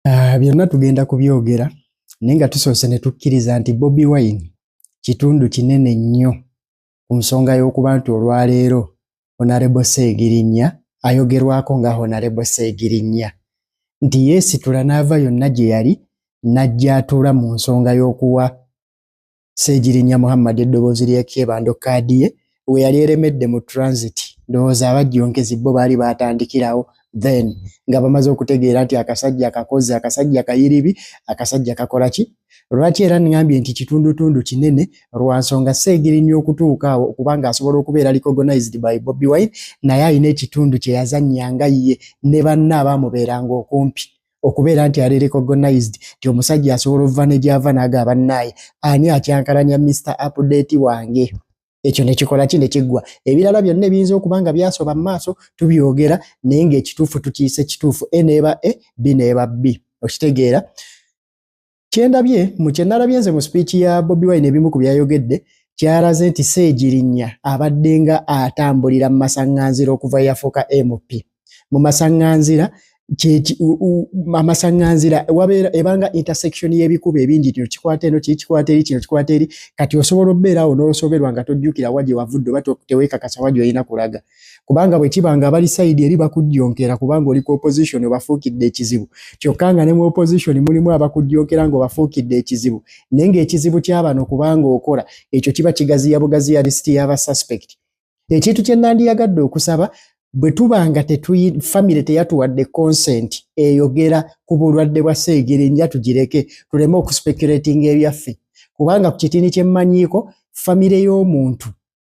Ah, byonna tugenda kubyogera naye nga tusoose ne tukkiriza nti bobi wine kitundu kinene nnyo ku nsonga y'okuba nti olwaleero honarebo seegirinnya ayogerwako nga honarebo seegirinnya nti yeesitula n'ava yonna gye yali n'ajja atuula mu nsonga y'okuwa Ssegirinya Muhammad eddoboozi ly'ekyebando kkaadi ye we yali eremedde mu transit ndowooza abajjonkezi bo baali baatandikirawo then nga bamaze okutegeera nti akasajja kakozi akasajja kayiribi akasajja kakola ki lwaki era ngambye nti kitundutundu kinene lwa nsonga seegirinya okutuuka awo okubanga asobola okubeera recognized by bobi wine naye alina ekitundu kye yazannya nga ye ne banna abaamubeeranga okumpi okubeera nti ali recognized nti omusajja asobola okuva ne gyava naaga abannaaye ani akyankalanya mr update wange ekyo nekikola ki nekiggwa ebirala byonna ebiyinza okuba nga byasoba mu maaso tubyogera naye ngaekituufu tukiyise kituufu e neeba e bi neeba bbi okitegeera kyendabye mu kyenalabye nze mu speech ya Bobi Wine ebimu ku byayogedde kyalaze nti Ssegirinya abadde nga atambulira mu masaŋŋanzira okuva yafuuka MP mu masaŋŋanzira amasaŋŋanzira wabeera ebanga intersection y'ebikuba ebingi kino kikwata eno kiri kikwata eri kino kikwata eri kati osobola obeeraawo n'osoberwa nga tojjukira wa gye wavudde oba teweekakasa wa gy'olina kulaga kubanga bwe kiba nga abali sayidi eri bakujjonkera kubanga oli ku opposition obafuukidde ekizibu kyokka nga ne mu opposition mulimu abakujjonkera ng'obafuukidde ekizibu naye ng'ekizibu ky'abano kubanga okola ekyo kiba kigaziya bugaziya lisiti y'aba suspect ekintu kye nandiyagadde okusaba bwe tuba nga famire teyatuwadde consent eyogera ku bulwadde bwa seegere nja tugireke tuleme okuspekulatinga ebyaffe kubanga ku kitini kyemmanyiiko famire y'omuntu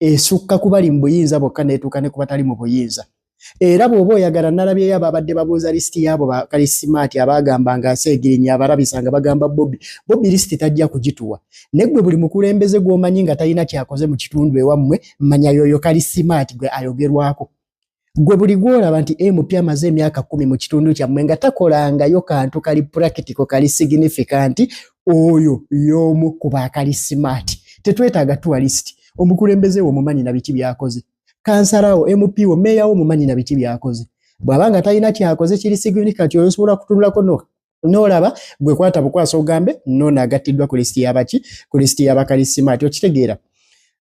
esukka kubali mu buyinza bokka netuuka ne kubatali mu buyinza era bw'oba oyagala nalabyeyo ababadde babuuza lisiti yaabo bakalisimaati abaagamba nga seegirinya abarabisa nga bagamba bobi bobi lisiti tajja kugituwa ne gwe buli mukulembeze gw'omanyi nga talina kyakoze mu kitundu ewammwe manya yoyo kalisimaati gwe ayogerwako gwe buli gwolaba nti mp amaze emyaka kumi mu kitundu kyammwe nga takolangayo kantu kali purakitiko kali signifikanti oyo y'omu ku baakali simaati tetwetaaga tuwalisiti omukulembeze wo omumanyi na biki byakoze kansalawo mp wo meeyawo omumanyi na biki byakoze bw'aba nga talina kyakoze kiri signifikanti oyo osobola kutunulako no nolaba gwe kwata bukwasa ogambe nono agattiddwa ku lisiti yabaki ku lisiti yabakalisimati okitegeera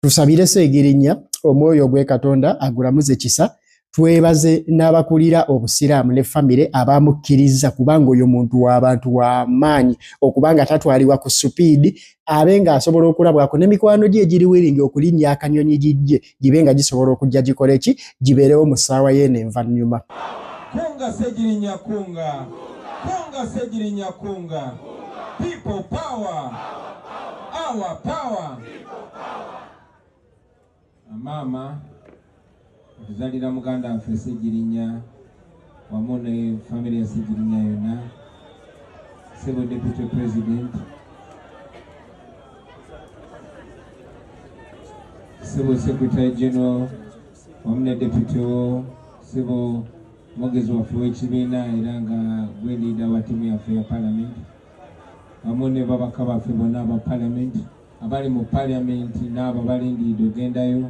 tusabire seegirinya omwoyo gwe katonda agulamuze kisa twebaze n'abakulira obusiraamu ne famire abamukkiriza kubanga oyo muntu w'abantu w'amaanyi okuba nga tatwalibwa ku supiidi abe ng'asobola okulabwako ne mikwano gye egiriwiringi okulinnya akanyonyi gijje gibe nga gisobola okujja gikole ki gibeerewo mu ssaawa yeeno envannyuma kunga segirinya kunga kunga segirinya kunga people power our power maama otuzalira muganda waffe segirinya wamu ne famire ya Ssegirinya yonna, Ssebo Deputy President, Ssebo Secretary General wamu ne Deputy wo, Ssebo mwogezi waffe w'ekibiina era nga gwe liida wa ttiimu yaffe ya Palamenti wamu ne babaka baffe bonna aba Palamenti abali mu Palamenti n'abo abalindiridde ogendayo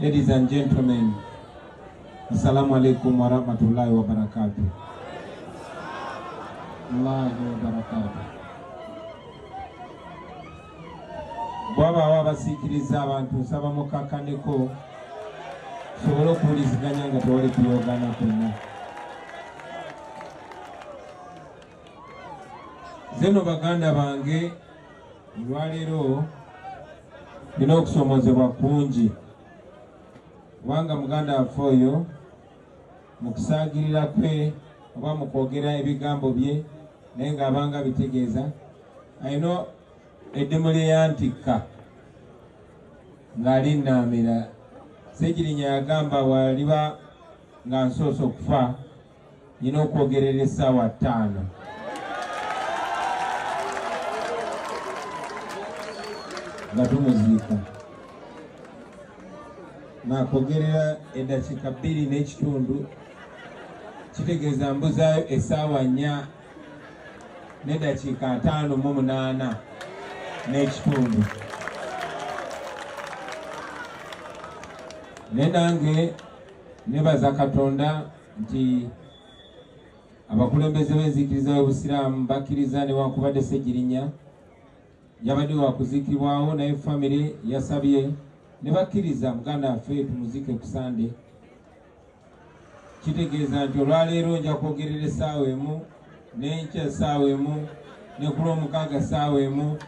Ladies and gentlemen, Assalamu alaikum warahmatullahi wabarakatuh. Allahu wabarakatuh. Bwabaawo abasiikiriza abantu nsaba mukakkaneko tusobole okuwuliziganya nga tewali kuyoogana kwonna. zeno baganda bange olwaleero nina okusomozebwa kungi kubanga muganda waffe oyo mu kusaagirira kwe oba mu kwogera ebigambo bye naye ng'abanga bitegeeza alina eddimu lye yantikka ng'ali nnaamira segirinya yagamba waliba nga nsoose okufa nina okwogerera esaawa ttaano nga tumuziika nakwogerera eddakiika bbiri n'ekitundu kitegeeza mbuzaayo esaawa nnya n'eddakiika ataano mu munaana n'ekitundu ne nange nebaza katonda nti abakulembeze b'enzikiriza y'obusiraamu bakkiriza newankubadde ssegirinya yabadde wakuzikibwawo naye famire yasabye ne bakkiriza muganda waffe tumuzike ku sande kitegeeza nti olwaleero nja kwogerera essaawa emu n'enkya essaawa emu ne ku lwomukaaga essaawa emu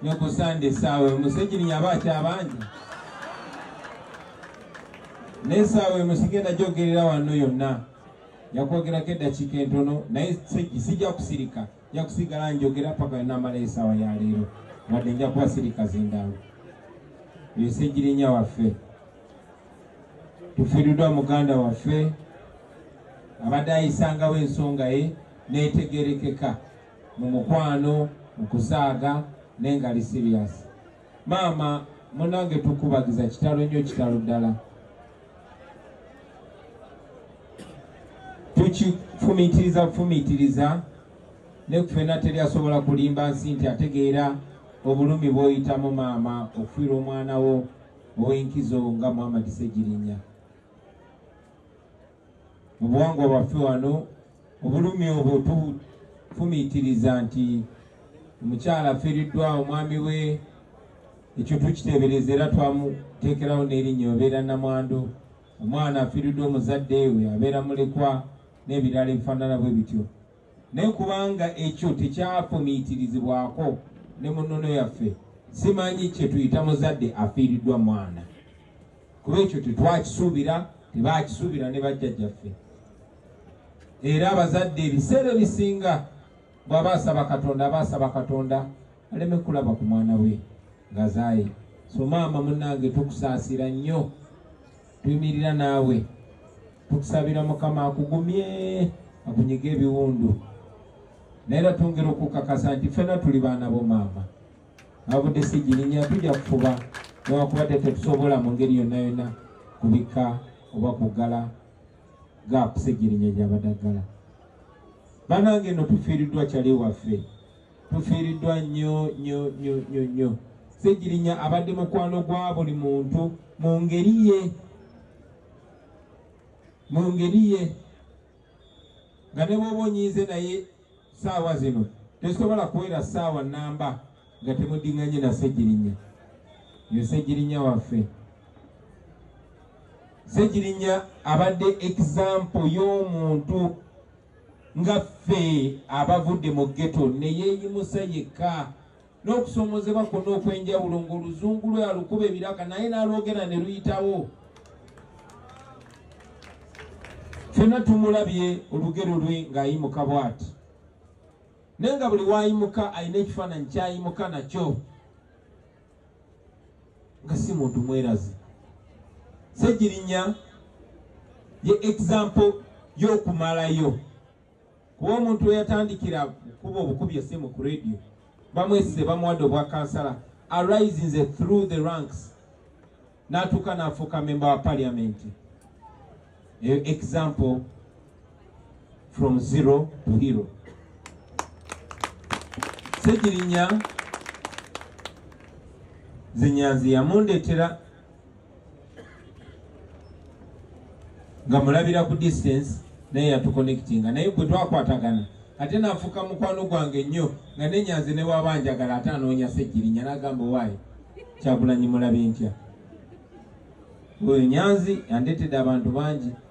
ne ku sande essaawa emu segirinya aba akyabangi n'essaawa emu sigenda gyogerera wanno yonna yakwogerako eddakiika entono naye sijja kusirika nja kusigala njogera paka namala esaawa ya leero wadde nja kuba sirika zindalo eyo segirinya waffe tufiiriddwa muganda waffe abadde ayisangawo ensonga ye n'etegerekeka mu mukwano mu kusaaga naye nga li sirias maama munange tukubagiza kitalo nnyo kitalo ddala tukifumitiriza bufumitiriza ne kufena teri asobola kulimba nsi nti ategeera obulumi bw'oyitamu maama okufiirwa omwana wo ow'enkizo nga Muhammad Ssegirinya. Mu buwangwa bwaffe wano obulumi obwo tufumiitiriza nti omukyala afiiriddwa omwami we ekyo tukiteebereza era twamuteekerawo n'erinnya obeera namwandu omwana afiiriddwa omuzadde we abeera mulekwa n'ebirala ebifaanana bwe bityo Naye kubanga ekyo tekyafumiitirizibwako ne mu nnono yaffe, simanyi kye tuyita muzadde afiiriddwa mwana, kuba ekyo tetwakisuubira, tebaakisuubira ne bajjajjaffe. Era abazadde ebiseera ebisinga bw'aba asaba Katonda aba asaba Katonda aleme kulaba ku mwana we ngazaaye. So maama munnange tukusaasira nnyo. tuyimirira naawe tukusabira mukama akugumye akunyige ebiwundu naye era twongera okukakasa nti ffena tuli baana bo maama abudde sigirinya tujja kufuba newakubadde tetusobola mu ngeri yonna yonna kubika oba kuggala gaapu sigirinya gyabadaggala banange no tufiiriddwa kyali waffe tufiiriddwa nnyo nnyo nnyo nnyo nnyo segirinya abadde mukwano gwa buli muntu mu ngeri ye mu ngeri ye nga ne bwoba onyiize naye saawa zino tesobola kuwera saawa namba nga temudinganye na segirinya yo segirinya waffe segirinya abadde example y'omuntu nga ffe abavudde mu ghetto ne yeeyimusa yekka n'okusoomozebwa kwonna okw'enjawulo ng'oluzungu lwe alukuba ebiraka naye n'alwogera ne luyitawo ffena tumulabye olugero lwe ng'ayimuka bwati naye nga buli waayimuka alina ekifaananyi kyayimuka nakyo nga si muntu mwerazi segirinya ye example y'okumalayo kuba omuntu weyatandikira kuba obukubi esimu ku radio bamwesize bamuwadde obwa kansala arisinze through the ranks natuuka nafuuka memba wa parliament eyo example from zero to hero segirinya zinyanzi yamundetera nga mulabira ku distance naye yatuconnectinga naye gwe twakwatagana ate nafuuka mukwano gwange nnyo nga nenyanzi newabanjagala ate anoonya segirinya nagamba owaayo kyagulanyi mulabi ntya oyo nyanzi yandetede abantu bangi